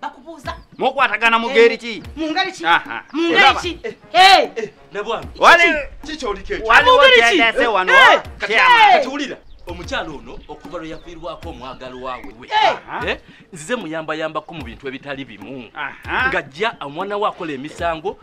bakubuuza mukwatagana mu ngeri ki mu ngeri ki Aha. mu ngeri Olaba? ki Eh, Eh, nabwana Wali- kiki kyolikekyo waliwo Mungeri ki? kyendese wano Eh, kati kyama. kati wulira omukyala ono okuva lwe yafiirwako omwagalwa we Aha. Eh, nzize muyambayambako mu bintu ebitali bimu Aha. ng'ajja omwana we akola emisango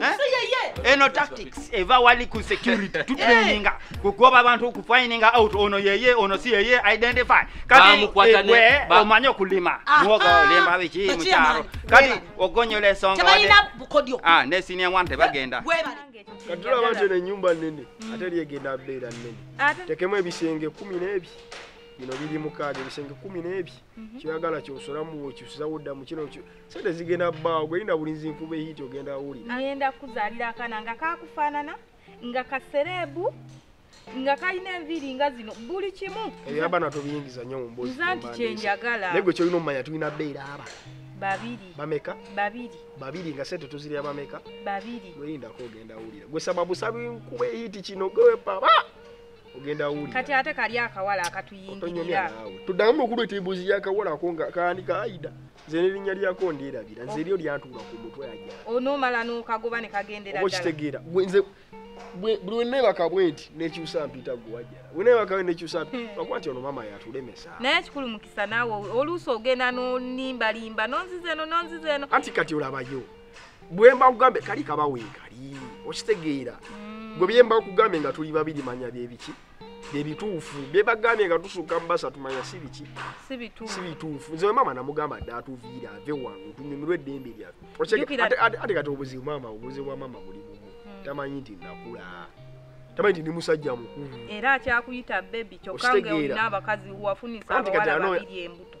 Eh? eno tactics eva wali ku security eh. tutraininga kugoba abantu kufininga out ono yeye ono si yeye identify kati eh, omanye okulima muwoga olemba biki mukyalo kati ogonyola esonga ah, ne senior one tebagenda katula abantu eno enyumba nene ate lyegenda beera nene tekemu ebisenge kumi n'ebi bino biri mukaaga ebisenge kumi n'ebi mhm. kyoyagala kyosolamu wekyusizawo ddamu kino sente zigenda bbaawo gweyina bulinzi nkuba ehiiti ogenda wulira ayenda kuzaalira akaana nga kakufaanana nga kasereebu nga kalina enviiri nga zino buli kimu ebyabana tobiyingiza nyo mumboza nti kyenjagala naye gwe kyolina omumanya tulina beera aba babiri bameka babiri babiri nga sente tuzirya bameka babiri gweyindako ogenda wulira gwe sababu sabi nkuba ehiiti kino gwewepaba ogenda wulira kati ate kali akawala akatuyingirira tuddamu okulweta embuzi yakawala ako nga kaandika aida nze nerinnya lyako ndyerabira nze eryo lyantuula ku mutwe aja onomala nokagoba nekagendera okitegeera nze buli wenebaka bwe nti nekyusa mpita gwe wajjala wenebaka we nekyusa hmm. akuba nti ono maama yatulemesa naye ekikulu mukisa naawe oluusi ogenda nonimbalimba nonziza eno nonziza eno anti kati olabayo bwemba kugambe kali kabaweekali okitegeera hmm. gwe byemba kugambe nga tuli babiri manya byebiki byebituufu byebagambye nga tusuka mubasa tumanya sibiki sibituufu nze maama namugamba dde atuviire ave wange tunyumirwe eddembe lyafeate kati obuzibu maama obuzibu bwa maama buli bumu hmm. tamanyi nti nakula tamanyi nti ndi musajja mukulu era akyakuyita bebi kyokka nga olina abakazi wafunisa abawala babiri embuto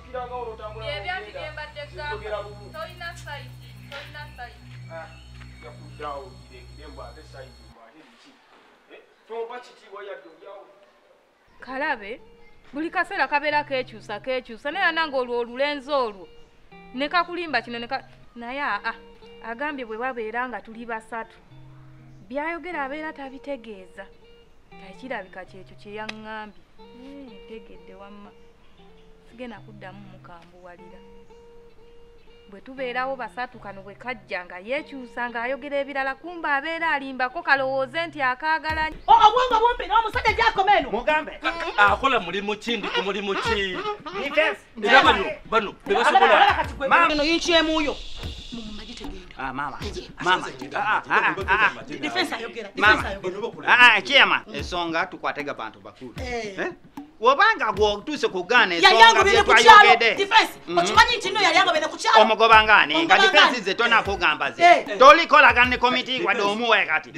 Byebyanti byembadde gamba tolina saidi tolina saidi. Ah, Yakuddawo kirekire mbu ate saidi mbu ate biki eh, tompa kitiibwa yadde olyawo. Kalabe buli kaseera kabeera kekyusa kekyusa naye anange olwo olulenzi olwo ne kakulimba kino neka naye aa agambye bwe babeera nga tuli basatu byayogera abeera tabitegeeza ekirabika kyekyo kyeyaŋŋambye ntegedde wamma sigenda kuddamu mukambuwalira bwe tubeerawo basatu kano bwe kajja nga yeekyusa ng'ayogera ebirala kumba abeera alimbako kalowooze nti akaagala oh, obwongo bumbi n'omusajja gyakoma eno mugambe akola mulimu ki ndi ku mulimu ki era bano bano bebasobolaeno yinkyemuuyo kyema ensonga tukwatega bantu bakulu eh. Eh? obanga gwotuuse ku gaana ensongabyetwayogede mhm. okimanyi nti no yali agobene kukyalo omugoba ngaani nga difensi ze tona kugamba ze eh. eh. tolikolagana ne komiti wadde omuwe kati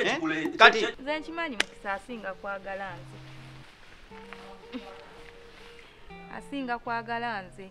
eh? kati nze nkimanyi mukisa asinga kwagala nze asinga kwagala nze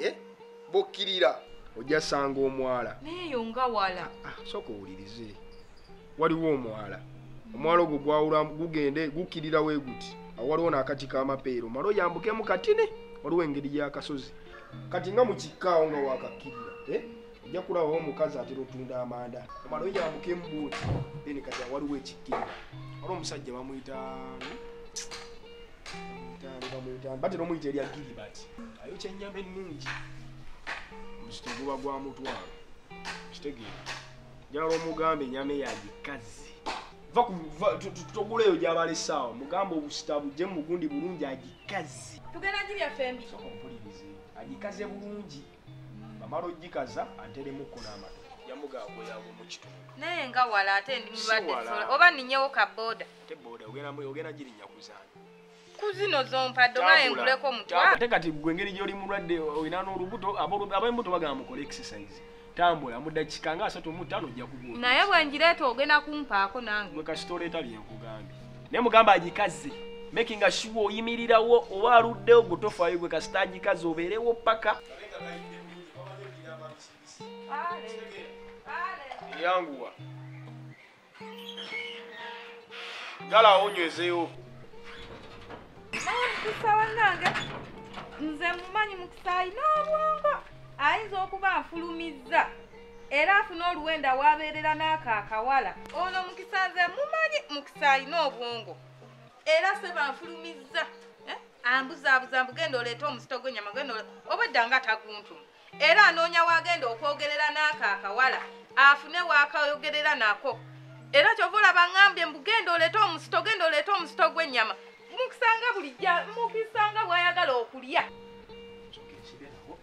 eh? bokkirira ojja sanga omwala nayeyo nga wala ah, sooka owulirize waliwo omwala omwala ogwo gwawula gugende gukkirira we guti awaliwo n'akati k'amapeero mala oyambukemu katine waliwo engeri y'akasozi kati nga mu kikkaawo nga wakakkirira eh? ojja kulabawo omukazi atera otunda amanda omala oyambuka embuuti then kati awaliwo ekikkira wali omusajja bamuyita batera omuyita erya giribati ayo kyenyama ennungi muzito guba gwa mutwalo kitegeera njala omugamba enyama eyagikazi togula eyo gyabala esaawa mugamba obusita bujje mugundi bulungi agikazi tugenda gibyafembi agikaze bulungi bamala ojjikaza anteremuko n'amatu yamugaagweyawo mu kitundu naye nga wala ate ndi mulwadde oba ninyewo ka boda ate boda ogenda girinya kuzaana kuzino zompadde oba enguleko mutwa ate kati gwe engeri gy'oli mulwadde olina n'olubuto ab'embuto bagamba mukole exercise tambula mudakika nga asatu mutano ojja kubuuka naye bwenjireeta ogenda kumpaako nange gwe kasita oleeta byenkugambye ne mugamba agikaze making sure oyimirirawo oba aluddewo gwe tofaayo gwe kasita agikaze obeerewo paka yanguwa gala awonywezeewo nze mumanyi mukisaayi n'obwongo ayinza okuba afulumizza era afuna oluwenda wabeerera n'ako akawala ono mukisa nze mumanyi mukisa alina obwongo era seba nfulumizza eh? ambuzaabuza mbugenda oleeta omuzito gwenyama genda obwedda nga taguntu era anoonya wagenda okwogerera n'ako akawala afune wakayogerera nako era kyova olaba ngambye mbugenda oleeta omuzito genda oleeta omuzito gwenyama mukisanga bulijja mukisanga bwayagala okulya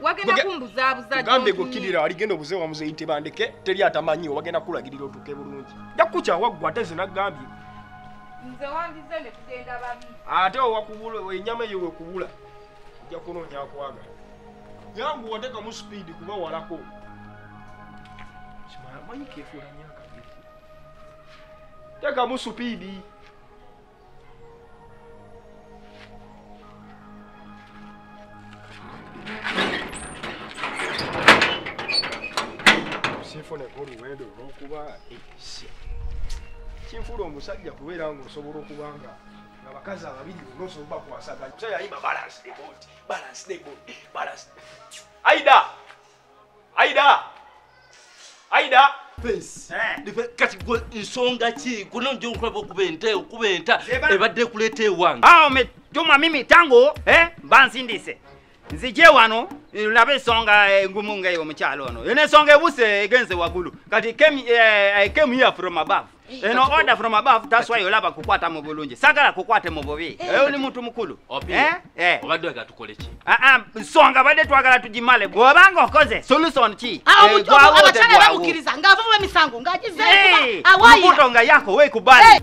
wagenda Wage- kumbuzabuza gambe gokirira aligenda obuze wamuzeyi tebandeke teri atamanyiwo wagenda kulagirira otuke bulungi ja kukyawa ggwe ate nze nagambye nze wandize ne tugenda babi ate owakubula enyama eyo wekubula ojja kunoonya akwagala yangu watekamu sipiidi kuba walako Simala, manyi kefuula nnyo akagezi. tekamu sipiidi nfuneko oluwendo olwokuba ekisi kinfuula omusajja kubeera nga osobola okuba nga abakazi ababiri bona osobola bakwasaganya omusajja ayima balance ne bond balance ne bond balance aida Aida! Aida! Face. Eh. Dife kati gwe nsonga ki? Kuno nje nkulaba okuba ente, okuba enta ebadde kuleeta ewange. Ah, umetuma mimi tangu eh banzindise. Nzije wano nlabe ensonga eh, engumu nga eyo omukyalo ono. Yene ensonga ebuse egenze wagulu. Kati came, eh, I came here from above. eno order from above that's why olaba kukwata mu bulungi sagala kukwate mu bubi eh. eyo oli muntu mukulu eh? eh. obadde aga tukole ki ah, ah, nsonga badde twagala tugimale bwobanga okoze solution ki ah, abakyala bamukiriza ng'avumu emisango ng'agizemubuto nga yako weekubali